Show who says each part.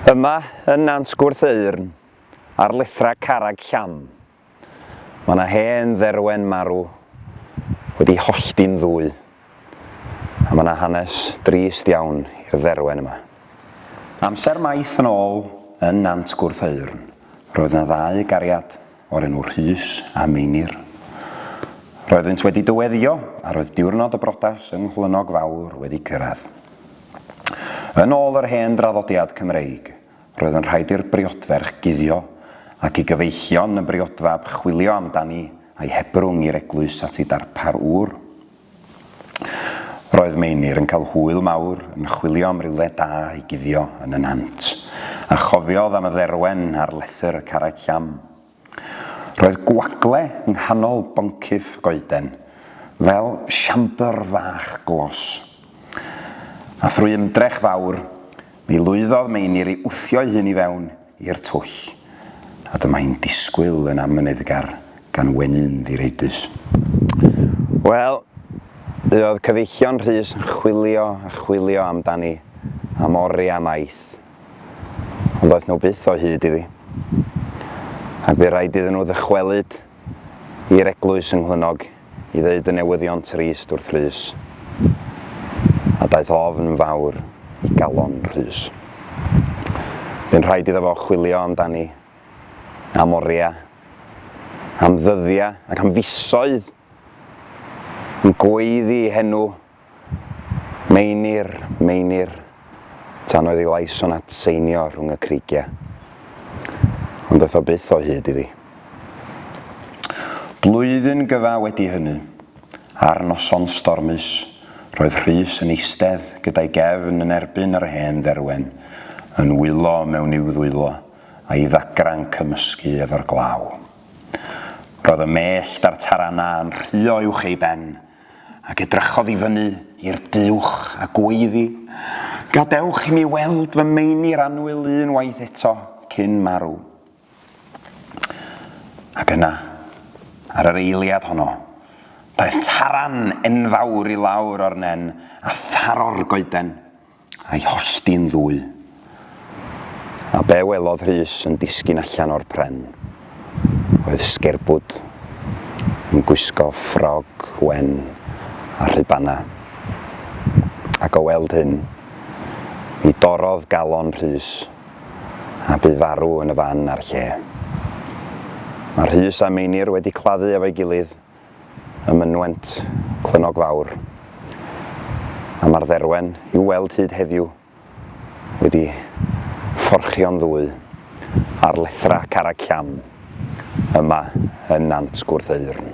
Speaker 1: Yma yn Nant Gwrtheyrn, ar lethrau Carreg Llam, mae 'na hen dderwen marw wedi hollti'n ddwy, a mae 'na hanes drist iawn i'r dderwen yma. Amser maith yn ôl yn Nant Gwrtheyrn, roedd 'na ddau gariad o'r enw Rhys a Meinir. Roeddynt wedi dyweddïo a roedd diwrnod y brotas yng Nghlynnog Fawr wedi cyrraedd. Yn ôl yr hen draddodiad Cymreig, roedd yn rhaid i'r briodferch guddio ac i gyfeillion y briodfab chwilio amdani a'i hebrwng i'r eglwys at ei darpar ŵr. Roedd Meinir yn cael hwyl mawr yn chwilio am rywle da i guddio yn y nant, a chofiodd am y dderwen ar lethr y carreg llam. Roedd gwagle yng nghanol boncyff goeden, fel siambr fach glos. A thrwy ymdrech fawr, mi lwyddodd Meinir i wthio'i hun i fewn i'r twll, a dyma hi'n disgwyl yn amyneddgar gan weny'n ddireidus. Wel, buodd cyfeillion Rhys yn chwilio a chwilio amdani am oriau maith, ond ddoeth nhw byth o hyd iddi, ac bu raid iddyn nhw ddychwelyd i'r eglwys yng Nghlynnog I ddeud y newyddion trist wrth Rhys, a daeth ofn yn fawr i galon Rhys. Bu'n rhaid iddo fo chwilio amdani, am oriau, am ddyddiau ac am fisoedd yn gweiddi henw Meinir, meinir, tan oedd ei lais o'n atseinio rhwng y creigiau. Ond aeth o byth o hyd iddi. Blwyddyn gyfa wedi hynny, ar noson stormus, roedd Rhys yn eistedd gyda'i gefn yn erbyn yr hen dderwen, yn wylo mewn i'w ddwylo, a'i ddagrau'n cymysgu efo'r glaw. Roedd y mellt a'r taranau yn rhuo uwch ei ben, ac edrychodd i fyny i'r duwch a gweiddi, Gadewch i mi weld fy meinir annwyl un waith eto cyn marw. Ac yna, ar yr eiliad honno, daeth taran enfawr i lawr o'r nen a tharo'r goeden A'i hollti'n ddwy. A be welodd Rhys yn disgyn allan o'r pren oedd sgerbwd yn gwisgo ffrog wen a rhubana. Ac o weld hyn, mi dorrodd galon Rhys a bu farw yn y fan a'r lle. Mae Rhys a Meinir wedi claddu efo'i gilydd ym mynwent Clynnog Fawr, a mae'r dderwen i'w weld hyd heddiw wedi fforchio'n ddwy ar lethrau Carreg Llam yma yn Nant Gwrtheyrn.